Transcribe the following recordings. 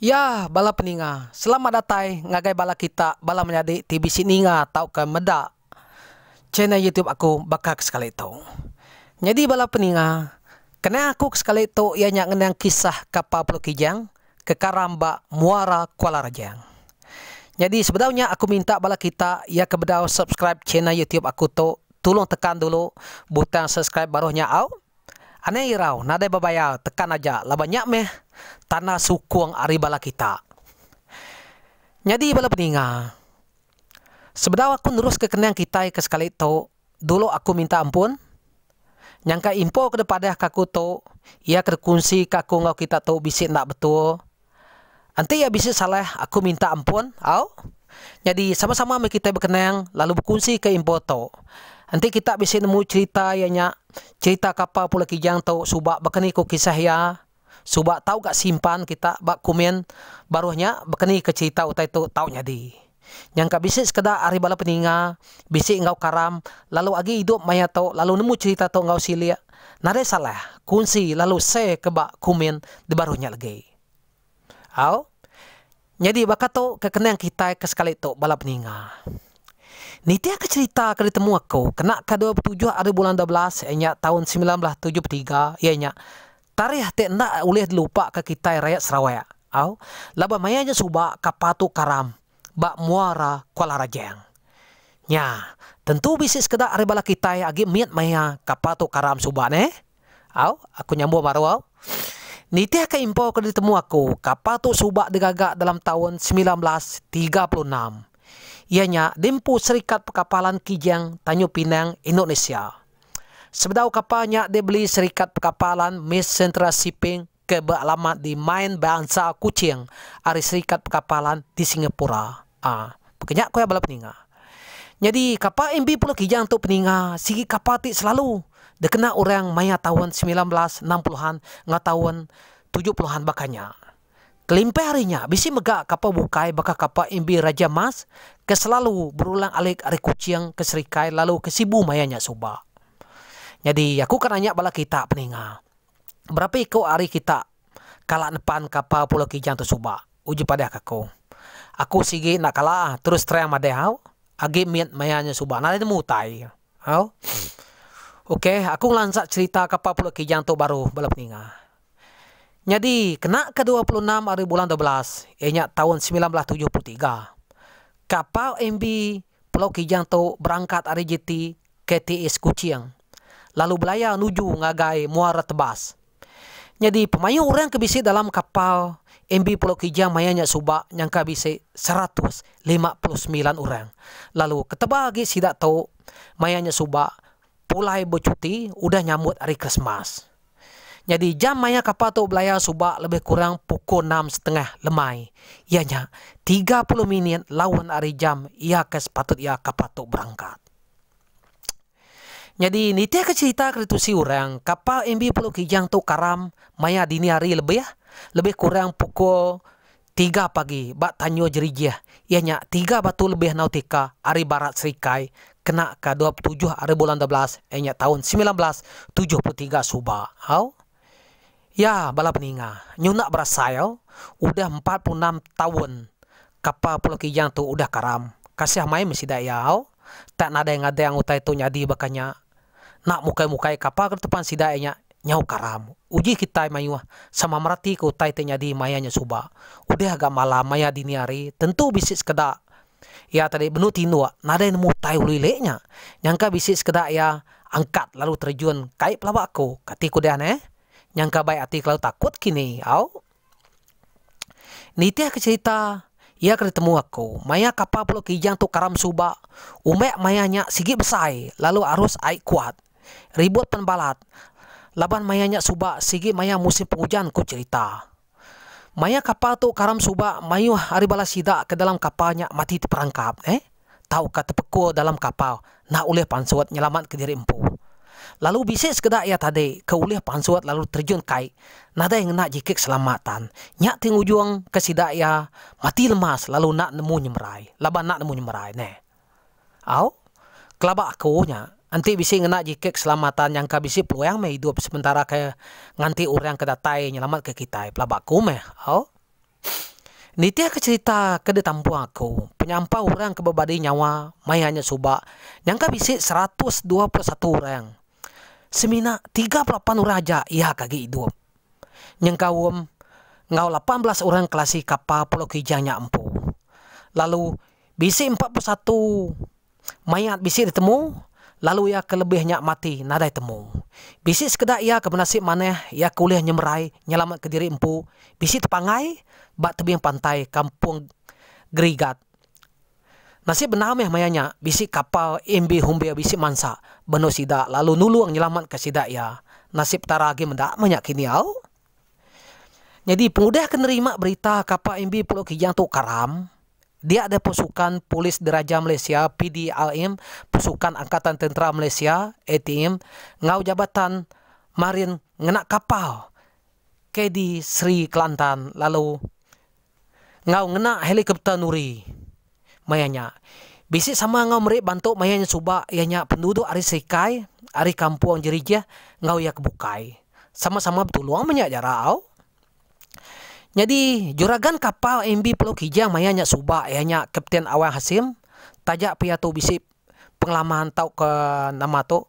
Ya bala peninga, selamat datai ngagai bala kita bala menyadi ti bisi ninga tauka meda channel youtube aku baka ke sekali tu. Nyadi bala peninga, kenang aku ke sekali tu iya nya ngenang kisah kapal Pulau Kijang ke karam ba Muara Kuala Rajang. Nyadi sebedau nya aku minta bala kita iya ke bedau subscribe channel youtube aku tu tulung tekan dulu butang subscribe baruh nya au. Anang irau nadai bebayar tekan aja laban nya meh tanda sukung ari bala kita. Nyadi bala peninga. Sebedau aku neruska kenang kitai ke sekali tu, dulu aku minta ampun. Nyangka info ke dipadahka aku tu, iya ke dikunsika aku enggau kita tu bisi enda betul. Enti iya bisi salah, aku minta ampun, au. Nyadi, sama-sama meh kitai bekenang lalu bekunsika info tu. Enti kita bisi nemu cherita iya nya, cherita kapal Pulau Kijang tu suba baka ni ku kisah iya, suba tau ga simpan kita ba komen baruh nya bekenika cherita utai tu tau nyadi. Nyangka bisi sekeda ari bala peninga bisi enggau karam lalu agi idup maya tu lalu nemu cherita tu enggau silik nadai salah kunsi lalu share ke ba komen di baruh nya legi. Au. Nyadi baka tu ke kenang kitai ke sekali tu bala peninga. Nitihka cherita ke ditemu aku kena ka dua betujuh ari bulan dua belas iya nya taun semilan belas tujuh betiga iya nya tarikh ti enda ulih dilupa ka kitai rayat Sarawak au laban maya nya suba kapal tu karam ba muara Kuala Rajang. Nya tentu bisi sekeda ari bala kitai agi mit maya kapal tu karam suba neh. Au, aku nyambung baru au. Nitihka info ke ditemu aku, kapal tu suba digaga dalam taun semilan belas tiga puluh enam, iya nya di empu Serikat Pekapalan Kijang, Tanjung Pinang, Indonesia. Sebedau kapal nya dibeli Serikat Pekapalan Miss Central Shipping, ke bealamat di Main Bansa Kuching ari Serikat Pekapalan di Singapura. A Baka nya ku iya bala peninga. Nyadi kapal MV Pulau Kijang tu peninga sigi kapal ti selalu dikena orang maya taun semilan belas enam puluh an enggau taun tujuh puluh an baka nya. Kelimpah ari nya bisi mega kapal bukai baka kapal MV Raja Mas ke selalu berulang-alik ari Kuching ke Serikai lalu ke Sibu maya nya suba. Nyadi aku ke nanya bala kita peninga. Berapa iko ari kita kala nepan kapal Pulau Kijang tu suba, uji padah ke aku. Aku sigi enda kala terus terang madah au, agi mit maya nya suba nadai nemu utai au. Ok, aku ngelansa cherita kapal Pulau Kijang tu baru bala peninga. Nyadi kena ke dua puluh enam ari bulan dua belas iya nya taun semilan belas tujuh puluh tiga, kapal MV Pulau Kijang tu berangkat ari jeti KTS Kuching. lalu belaya nuju ngagai muara tebas. Nyadi pemayuh orang ke bisi dalam kapal MV Pulau Kijang maya nya suba nyangka bisi seratus lima puluh semilan orang lalu ketebal agi sida tu maya nya suba pulai bechuti udah nyambut hari Krismas. Nyadi jam maya kapal tu belaya suba lebih kurang pukul enam setengah lemai iya nya tiga puluh minit laun ari jam iya ke sepatut iya kapal tu berangkat. Nyadi nitihka cherita ke ditusi orang, kapal MV Pulau Kijang tu karam maya dini hari lebih lebih kurang pukul tiga pagi ba Tanjung Jerijih iya nya tiga batu lebih nautika ari barat serikai kena ka dua puluh tujuh ari bulan dua belas iya nya taun semilan belas tujuh puluh tiga suba. Au. Iya bala peninga nyunak berasail udah empat puluh enam taun kapal Pulau Kijang tu udah karam. Kasih mai meh sida iya au tak nadai ngadang utai tu nyadi baka nya. Nak mukai-mukai kapal ke depan sida iya nya nyau karam. Uji kitai mayuh sama meratika utai ti nyadi maya nya suba. Udah ga malam maya dini hari tentu bisi sekeda. Iya tadi benung tinduk nadai nemu utai ulu ilik nya. Nyangka bisi sekeda iya angkat lalu terjun kai pelaba aku. Kati ku dian eh? Nyangka bai ati kelalu takut kini au. Nitih ke cerita iya ke ditemu aku, maya kapal pulau kijang tu karam suba, umek maya nya sigi besai lalu arus ai kuat. Ribut pen balat laban maya nya suba sigi maya musim pengujan ku cerita. Maya kapal tu karam suba mayuh ari bala sida ke dalam kapal nya mati teperangkap neh tauka tepekul dalam kapal enda ulih pansut nyelamatka diri empu. Lalu bisi sekeda iya tadi ke ulih pansut lalu terjun kai nadai ngena jikit selamat tan. Nya ti ngujungka sida iya mati lemas lalu enda nemu nyemerai laban enda nemu nyemerai neh. Au, kelaba aku nya enti bisi ngena jiket keselamatan nyangka bisi peluang meh idup sementara ke nganti orang ke datai nyelamatka kitai pelaba aku meh. Au. Nitihka cherita ke ditampung aku, penyampau orang ke bebadi nyawa maya nya suba nyangka bisi seratus dua puluh satu orang semina tiga puluh lapan orang aja iya ke agi idup nyengkaum enggau lapan belas orang kelasi kapal Pulau Kijang nya empu lalu Bisi empat puluh satu mayat bisi ditemu lalu iya ke lebih nya mati nadai temu. Bisi sekeda iya ke benasib manah iya ke ulih nyemerai nyelamatka diri empu bisi tepanggai ba tebing pantai Kampung Gerigat. Nasib bendar mih maya nya bisi kapal MB Humbir bisi mansa benung sida lalu nulung nyelamatka sida iya. Nasib Petara agi meda meh nya kini au. Nyadi pengudah ke nerima berita kapal MB Pulo Kijang tu karam, Dia deh Pusukan Polis Diraja Malaysia, PDRM, Pusukan Angkatan Tentera Malaysia, ATM, enggau Jabatan Marin Ngena Kapal, KD Sri Kelantan lalu enggau ngena helikopter nuri maya nya. Bisi sama enggau meri bantu maya nya suba iya nya penduduk ari Serikai, ari Kampung Jerijih enggau iya ke bukai. Sama-sama betulung menya jarak au. Nyadi, juragan kapal MV Pulau Kijang maya nya suba iya nya Kapten Awang Hasim taja pia tu bisi pengalaman tauka nama tu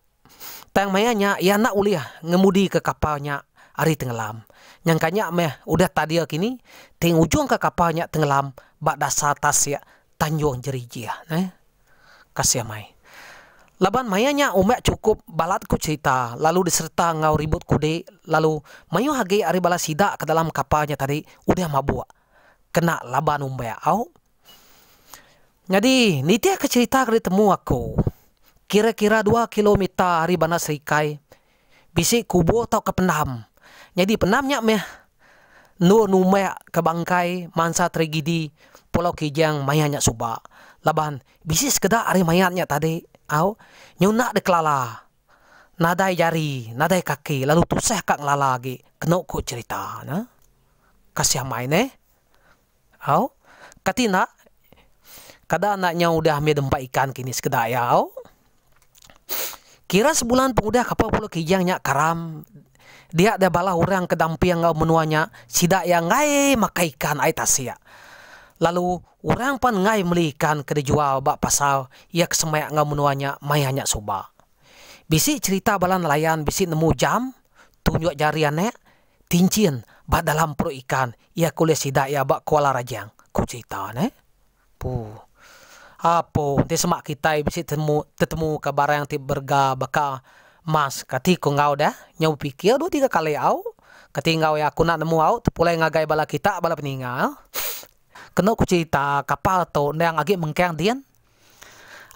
tang maya nya iya enda ulih ngemudika kapal nya ari tengelam. Nyangka nya meh udah tadir kini ti ngujungka kapal nya tengelam ba dasar tasik Tanjung Jerijih neh. Kasih amai. Laban maya nya umbai chukup balat ku cherita lalu disereta enggau ribut kudi lalu mayuh agi ari bala sida ke dalam kapal nya tadi udah mabuk kena laban umbai au. Nyadi nitihka cherita ke ditemu aku kira-kira dua kilometer ari bandar serikai Bisi kubur tauka pendam. Nyadi pendam nya meh endur numbak ke bangkai mansa tragedi Pulau Kijang maya nya suba. Laban bisi sekeda ari mayat nya tadi au nyunak deh kelala nadai jari nadai kaki lalu tusah ka ngelala agi kenu ku cherita ne. Kasih amai neh. Au, kati enda? Kada enda nyau udah mih dempa ikan kini sekeda iya, au. Kira sebulan pengudah kapal Pulau Kijang nya karam dia deh bala orang ke damping enggau menua nya sida iya enggai makai ikan ai tasik. Lalu orang pan enggai meli ikan ke dijual ba pasar iya ke semak enggau menua nya maya nya suba. Bisi cherita bala nelayan bisi nemu jam, tunjuk jari anak, Tinchin ba dalam perut ikan iya ke ulih sida iya ba Kuala Rajang, ku cherita ne. Puh. Apo enti sema kitai bisi temu tetemuka barang ti berega baka emas kati ko enggau deh nyau bepikir dua tiga kali au kati enggau iya aku enda nemu au tepulai ngagai bala kita bala peninggal. Kenu ku cherita kapal tu endang agi mengkang din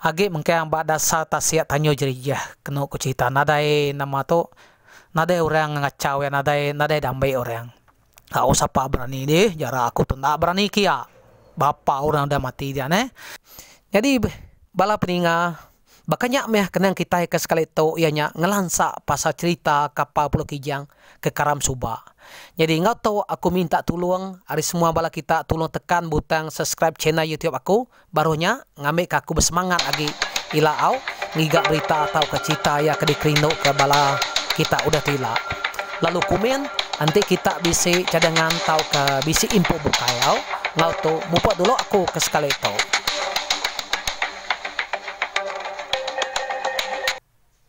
Agi mengkang ba dasar tasik tanyu jerijih kenu ku cerita nadai nama tu nadai orang ngachau iya nadai nadai dambe orang. Tau sapa berani dih jarak aku tu enda berani kia bapa orang udah mati diak neh. Nyadi bala peninga baka nya meh kenang kitai ke sekali tu iya nya ngelansa pasal cerita kapal pulo kijang ke karam suba. Nyadi enggau tu aku minta tulung ari semua bala kita tulung tekan butang subscribe channel youtube aku. Baruh nya, ngambika aku besemangat agi ila au ngiga berita tauka cherita iya ke dikerinduka bala kita udah tu ila. Lalu komen, Enti kita bisi cadangan tauka bisi info bukai au enggau tu, mupuk dulu aku ke sekali tu.